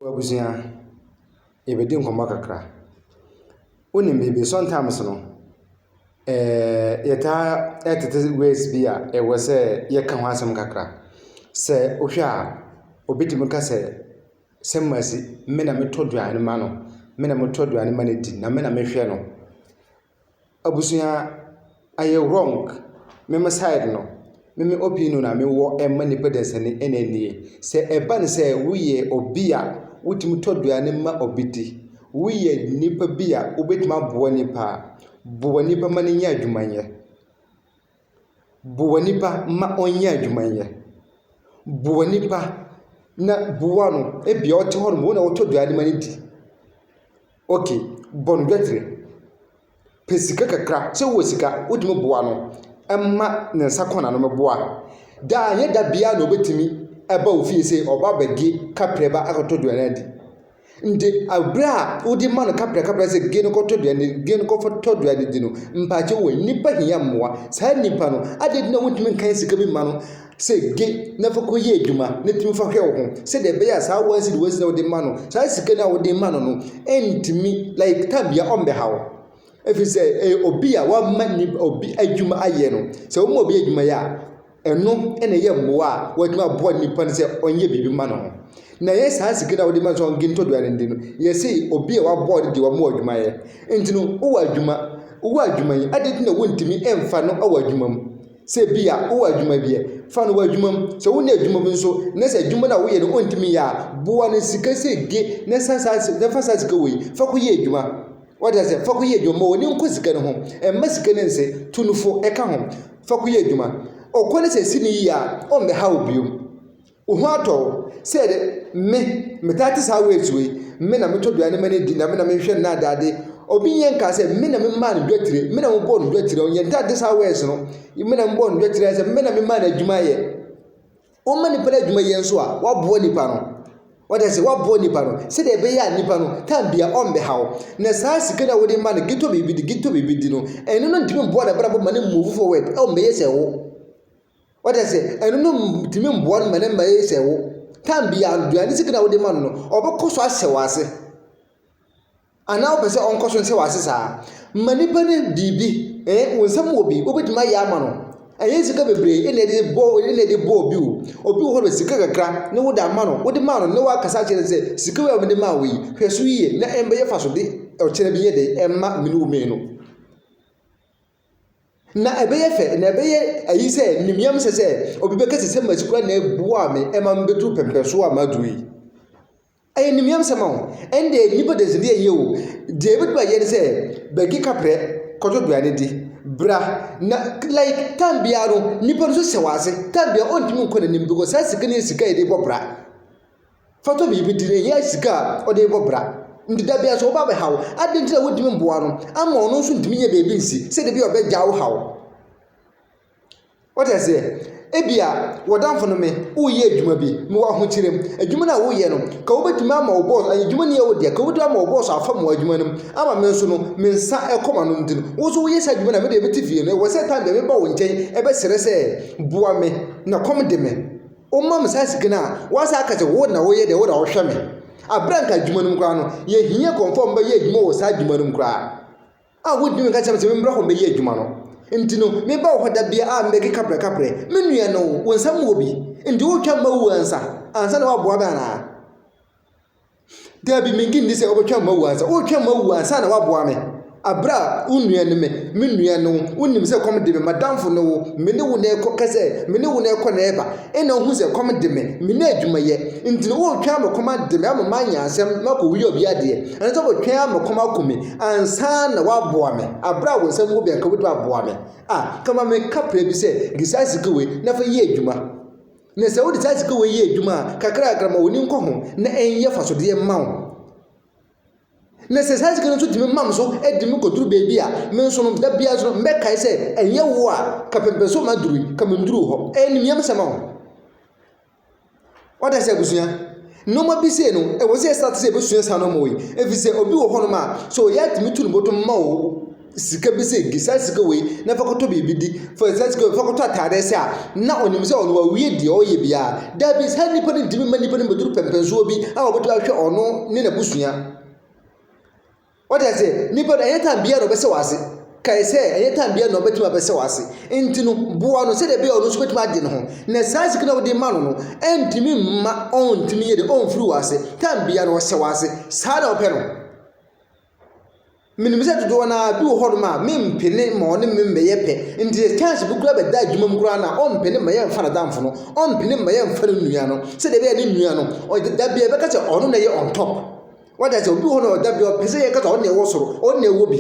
W'abusua, yɛbɛdi nkɔmmɔ kakra. Wonim biribi, sometimes no, eh, yɛtaa tete words bi a ɛwɔ sɛ yɛka ho asɛm kakra. Sɛ wohwɛ a, obi tumi ka sɛ, sɛ mmasi, me na metɔ aduane ma no, me na metɔ aduane ma no di, na me na mehwɛ no. Abusua ayɛ wrong me me side no me me opinion a mewɔ ɛma nipa dansani ɛna nie sɛ ɛba ne sɛ woyɛ obi a wotumi tɔ aduane ma obi di woyɛ nipa bi a wobɛtumi aboa nipa a boa nipa ma no nya adwuma yɛ. Boa nipa ma ɔnyɛ adwuma nyɛ. Boa nipa na boa no ebia ɔte hɔ nom, wo na wotɔ aduane ma no di. Okay, bɔ no dwetire. Pɛ sika kakra, sɛ wowɔ sika wotumi boa no ma ne nsa kɔ n'ano mmɛboa. Daa, ɛnyɛ da biara na obetumi aba wo fie sɛ ɔba abɛgye kaprɛba akɔtɔ aduane adi. Nde abre a wode ma no kaprɛkaprɛ sɛ gee no kɔ tɔ duane gee no kɔ tɔ duane di no mpaakyɛ wei nipa hia mmoa saa nipa no ade dina wontumi nkan sika bi ma no sɛ ge na fa kɔ yɛ adwuma na tumi fa hwɛ wo ho sɛ deɛ ɛbɛyɛ a saa wansi de wansi na wode ma no saa sika no a wode ma no no ɛntumi like tam bia ɔmbɛha wo ɛfiri sɛ ɛyɛ obi a wama ni obi adwuma ayɛ no sɛ woma obi adwuma yɛ a Ɛno na ɛyɛ mmoa a wɔde ma boa nipa no sɛ ɔnyɛ biribi mma no ho. Na ɛyɛ saa sika no a wɔde ma no sɛ ɔnge ntɔ aduane ndi no, yɛse obi a wɔaboa no deɛ wɔma wo adwuma yɛ. Nti no, wowɔ adwuma, wowɔ adwuma yi, adɛn nti na wontumi mfa no wɔ adwuma mu? Sɛ bi a wowɔ adwuma bi ɛ, fa no wɔ adwuma mu. Sɛ wonni adwuma bi nso, na sɛ adwuma no a woyɛ no ontumi yɛ a, boa no sika sɛ ge na san saa, na fa saa sika wei fa kɔyɛ adwuma. Wate aseɛ? Fa kɔyɛ adwuma. Ma w'ani nkɔ sika no ho. Mma sika no nse. Tu no fo. Ka ho. Fa kɔyɛ adwuma. Ɔkɔ no sɛ ɛsi no yie a, ɔmmɛha wo bio. Wo ho atɔ wo. Sɛ ɛde, me, metaa te saa ways wei. Me na metɔ aduane ma no di, na me na mehwɛ no na ade ade. Obi nyɛ nkaa sɛ, me na memaa no dwatire, me na mebɔɔ no dwatire. Yɛntaa nte saa ways no. Me na mebɔɔ no dwatire ara sɛ, me na memaa no adwuma yɛ. Wɔma nnipa no adwuma yie nso a, wɔaboa nnipa no. Wɔde ase wɔaboa nnipa no sɛdeɛ ɛbɛyɛ a nnipa no tan bia ɔmbɛhaw. Na saa sika no a wɔde ma no gitɔ biribi di gitɔ biribi di no, ɛno no ntumi mboa n'abrabɔ ma no move forward ɔmbɛyɛ sɛ wo. Wɔde ase ɛno no ntumi mboa no ma no mɛyɛ sɛ wo. Tan bia aduane sika no a wɔde ma no no, ɔbɛkɔ so ahyɛ w'ase. Anaa wopɛ sɛ ɔnkɔ so nhyɛ wo ase saa? Ma nipa no biribi, eh, wo nsam wɔ bi, wobɛtumi ayɛ ama no. Ɛnyɛ sika bebree na ɛde bɔ na ɛde bɔ obi o. Obi wɔ hɔ no sika kakra na wode ama no, wode maa no na wakasa akyerɛ no sɛ sika wei a mede maa wo yi, hwɛ so yie na ɛmbɛyɛ fa so de ɔkyerɛ bi yɛ dɛ ɛmma mene wo mmienu. Na ɛbɛyɛ fɛ, na ɛbɛyɛ ayi sɛ nimyam sɛ sɛ obi bɛka sɛ sɛ masi kura na ɛboa me ɛma mebɛduru pɛmpɛnsoɔ a maduru yi. Ɛyɛ animuonyamsɛm o, ɛnde ɛyɛ nnipa dansedi a ɛnyɛ o. Deɛ yɛbɛtumi ayɛ ne sɛ, bɛgye kaprɛ kɔtɔ aduane di, bra na like time biara no nipa no nso hyɛ w'ase, time biara ɔntumi nkɔ n'anim because saa sika no yɛ sika a yɛde bɔ bra. Fa tɔ biribi di na ɛnyɛ sika a ɔde rebɔ bra. Nti da biara sɛ ɔba abɛha wo, adɛn nti na wontumi mmoa no ama ɔno nso ntumi nyɛ baabi nsi sɛ da bi a ɔbɛgya wo haw. Wote aseɛ? Ebia wɔdamfo no me, woreyɛ adwuma bi, mewɔ ahokyerɛ mu. Adwuma no a woreyɛ no, ka wobɛtumi ama wo bɔs, ɛyɛ adwuma ni a wodeɛ, ka wobɛtumi ama wo bɔs afa mu adwuma no mu, ama me nso no, me nsa ɛkɔ m'ano nti no, wo nso woyɛ saa adwuma no a, me deɛ mete fie no, ɛwɔ sɛ time bɛ meba wo nkyɛn ɛbɛsrɛ sɛ boa me, na kɔm de me. Woma me saa sika no a, woasa aka sɛ wo na woyɛ deɛ, wo na wohwɛ me. Aberɛ a nka adwuma no mu koraa no, yɛhia nkurɔfoɔ a wɔbɛyɛ adwuma wɔ saa adwuma no mu koraa. a wodii kan ka kyerɛɛ me sɛ memmra hɔ mmɛyɛ adwuma no nti no, meba wo hɔ da biara a mebɛkeka prɛkaprɛ. Me nua no, wo nsam wɔ bi, nti woretwa mma wu ansa ansa na woaboa me anaa? Dabi, mennye nni sɛ wobɛtwa mma wu ansa. Woretwa mma wu ansa na woaboa me. Bere a wo nua ne me, me nua ne wo, wonim sɛ kɔm de me, m'adamfo ne wo, me ne wo na ɛkɔ, ka sɛ me ne wo na ɛkɔ na ɛba, ɛnna wuhu sɛ kɔm de me, menni adwuma yɛ, nti no woretwɛn ama kɔm ade me ama manyɛ asɛm na makowia obi adeɛ, anaasɛ woretwɛn ama kɔm akum me ansa na woaboa me, bere a wo nsa ngu bɛn ka wobɛtumi aboa me a, ka ma me ka pere bi sɛ de saa sika wei na fa yɛ adwuma. Na sɛ wode saa sika wei yɛ adwuma a, kakrakra ma w'ani nkɔ ho na ɛnyɛ fasodeɛ mma wo. Na sɛ saa sika no nso tumi mam so de me kɔduru baabi a, me nso no da biara nso no mɛkae sɛ ɛnyɛ wo a ka pɛmpɛ so ma duru yi, ka menduru hɔ. Ɛyɛ ne mmiam sɛm a wo. Wate ase abusua? Nneɛma bi sei no, ɛwɔ sɛ yɛsan te sɛ yɛbɛsua saa nneɛma wei. Ɛfiri sɛ obi wɔ hɔnom a, sɛ ɔyɛ a tumi tu ne bɔtɔ ma wo sika bi sɛ di saa sika wei na fa kɔtɔ biribi di, fa saa sika wei fa kɔtɔ atadeɛ sɛ a, na ɔnim sɛ ɔno wawie deɛ ɔreyɛ biara. Dabi, saa nnipa no ntumi mma nnipa no mmɛduru pɛmpɛnsoɔ bi a wɔbɛtumi ahwɛ ɔno ne n'abusua. Wate aseɛ? Nipa no, ɛnyɛ tan biara na ɔbɛsɛ w'ase. Kae sɛ, ɛnyɛ tan biara na ɔbɛtumi abɛsɛ w'ase. Enti no, boa no sɛdeɛ ɛbɛyɛ a ɔno nso bɛtumi agye ne ho. Na saa sika no a wode rema no no, ɛntumi mma ɔntumi yɛ dɛn? Ɔmfiri w'ase. Tan biara no, ɔsɛ w'ase. Saa na wopɛ no? Menim sɛ dodoɔ no ara bi wɔ hɔnom a, mempene ma ɔne me mmɛyɛ pɛ. Nti sɛ chance bi koraa bɛda adwuma mu koraa no a, ɔmpene mma yɛmfa n'adamfo no. Ɔmpene mma yɛmfa ne nua no. Sɛdeɛ ɛbɛyɛ a ne nua no, ɔde da biara ɛbɛka sɛ ɔno na ɛyɛ on top. Wate aseɛ, obi wɔ hɔ na ɔda bi ɔpɛ sɛ yɛka sɛ ɔno na ɛwɔ soro, ɔno na ɛwɔ bi.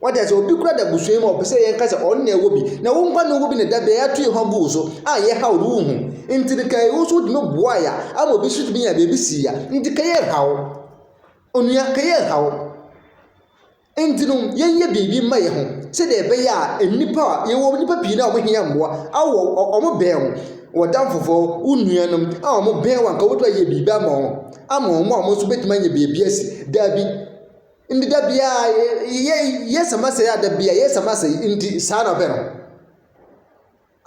Wate aseɛ, obi kura da abusua yi mu a ɔpɛ sɛ yɛka sɛ ɔno na ɛwɔ bi. Na wo nkwa na ɔwɔ bi na da bi a yɛato yɛn ho agu wo so a yɛhaw no wonhu. Nti no kae wo nso wotumi boae a ama obi nso tumi nya baabi sii a. Nti ka yɛnhaw. Onua, ka yɛnhaw. Enti no, yɛnyɛ biribi mma yɛn ho sɛdeɛ ɛbɛyɛ a nnipa a yɛwɔ nnipa pii no a wɔhia mmoa a wɔwɔ wɔn bɛn wo, w'adamfofoɔ, wo nuanom a wɔn bɛn wo a anka wobɛtumi ayɛ biribi ama wɔn ama wɔn a wɔn nso bɛtumi anya baabi asi. Dabi. Nti da biara yɛ yɛ yɛsɛ masɛe a da biara yɛsɛ masɛe nti saa na ɔbɛ no.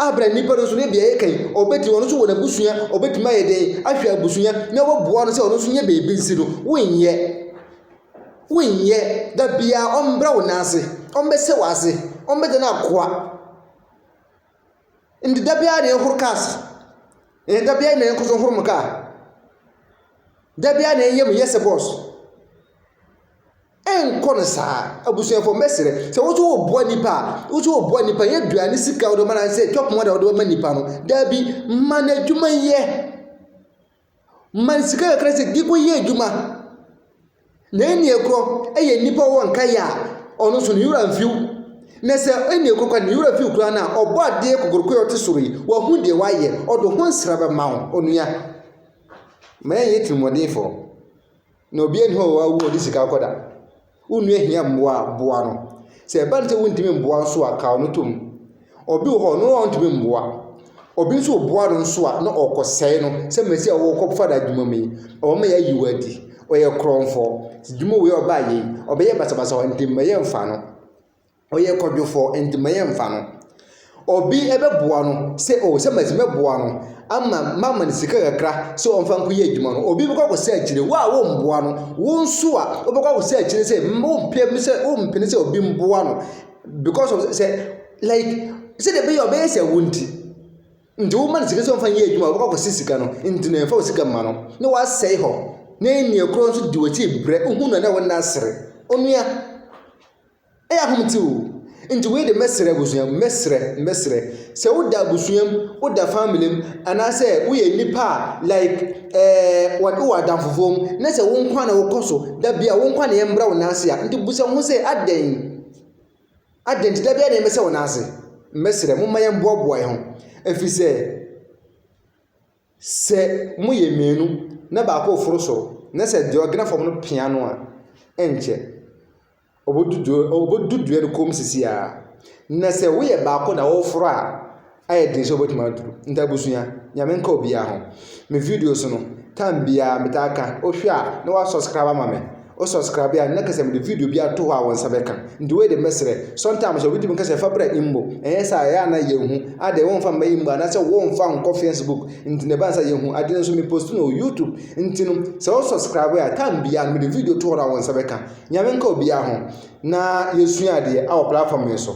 Abrɛ nnipa no nso ne deɛ yɛka yi, ɔbɛtumi, ɔno nso wɔ n'abusua, ɔbɛtumi ayɛ dɛn ahwɛ abusua na waboa no sɛ ɔno nso nyɛ baabi nsi no, wonyɛ. Wonyɛ, da biara ɔmbrɛ wo nan ase, ɔmbɛhyɛ wo ase, ɔmbɛgye no akoa. Nti da biara na yɛhoro cars, eh, da biara na yɛnkɔ so nhoro mo kaa. Da biara na yɛyɛ mo yɛ sɛ boss. Ɛnkɔ no saa. Abusuafoɔ mɛsrɛ sɛ wo nso woboa nipa a, wo nso woboa nipa yɛ aduane sika wode ma anaasɛ twɛpɔn ada wode ma nipa no. Daabi, ma no adwuma yɛ. Ma no sika kakra sɛ de kɔyɛ adwuma. Na ɛnni ɛkorɔ ɛyɛ nipa wɔ nka yɛ a, ɔno nso ne wura mfiw. Na sɛ ɛnni ɛkorɔ kora ne wura fiw koraa no a, ɔbɔ adeɛ kokoroko yɛ ɔte soro yi, wahu deɛ wayɛ, ɔde ho nsra bɛma wo, onua. Ma yɛnyɛ tirimɔdenfoɔ. Na obiara nni hɔ a wawu a ɔde sika akɔda. Wo nua hia mmoa a, boa no. Sɛ ɛba no sɛ wontumi mmoa nso a, kaw no tom. Obi wɔ hɔ, ɔno a ɔntumi mmoa. Obi nso woboa no nso a, na ɔrekɔsɛe no. Sɛ Mesia a wɔrekɔfa no adwuma mu yi, ɔwɔ ma yɛayi wo adi. Ɔyɛ korɔmfoɔ. Dwuma wei a ɔbaeɛ yi, ɔbɛyɛ basabasa wɔ ha, enti mma yɛmfa no. ɔyɛ kwadwofoɔ nti ma yɛn mfa no ɔbi ɛbɛboa no sɛ o sɛ mɛtumi bɛboa no ama mama no sika kakra sɛ ɔmfa nkɔ yɛ adwuma no obi bɛkɔ akɔsɛ akyire wo a womboa no wo nso a wobɛkɔ akɔsɛ akyire sɛ wompɛ mu sɛ wompene sɛ obi mboa no because of sɛ like sɛdeɛ ɛbɛyɛ a ɔbɛyɛ sɛ wo nti nti woma no sika sɛ ɔmfa nyɛ adwuma a wobɛkɔ akɔsɛ sika no nti na ɛmfa wo sika mma no na wasɛe hɔ na ɛnneɛ korɔ nso de w'akyi brɛ wohu no a na wo nna asere onua Ɛyɛ ahomete o. Nti wei de mɛsrɛ abusua mu, mɛsrɛ, mɛsrɛ. Sɛ woda abusua mu, woda family mu, anaasɛ woyɛ nipa a like ɛɛ wɔde wɔ adamfofoɔ mu, na sɛ wo nkwa na wokɔ so, da bi a wo nkwa na yɛmbrɛ wo nan ase a, nti busa wo ho sɛ adɛn? Adɛn nti da bi a na yɛmɛsɛ wo nan ase? Mɛsrɛ momma yɛmboaboa yɛn ho. Ɛfiri sɛ, sɛ moyɛ mmienu na baako reforo soro, na sɛ deɛ ɔgena fam no pia no a, ɛnkyɛ. Obodu dua no obodu dua no kɔn mu sisi ara. Na sɛ woyɛ baako na woforo a, ayɛ den sɛ wobɛtumi aduru. Nti abusua, Nyame nka obiara ho. Me videos no, time biara metaa ka, wohwɛ a na woasubscribe ama me. Wo subscribe a, na kɛsɛ mede video bi ato hɔ a wo nsa bɛka. Nti wei de mɛsrɛ, sometimes obi tumi ka sɛ fa bra Imbo. Ɛnyɛ saa, ɛyɛ a na yɛnhu. Adɛn, womfa mma Imbo anaasɛ womfa nkɔ Facebook. Nti na ɛba no sɛ yɛnhu. Ade no nso me post no wɔ YouTube. Nti no, sɛ wo subscribe a, time biara no mede video to hɔ no a wo nsa bɛka. Nyame nka obiara ho na yɛsua adeɛ wɔ platform yi so.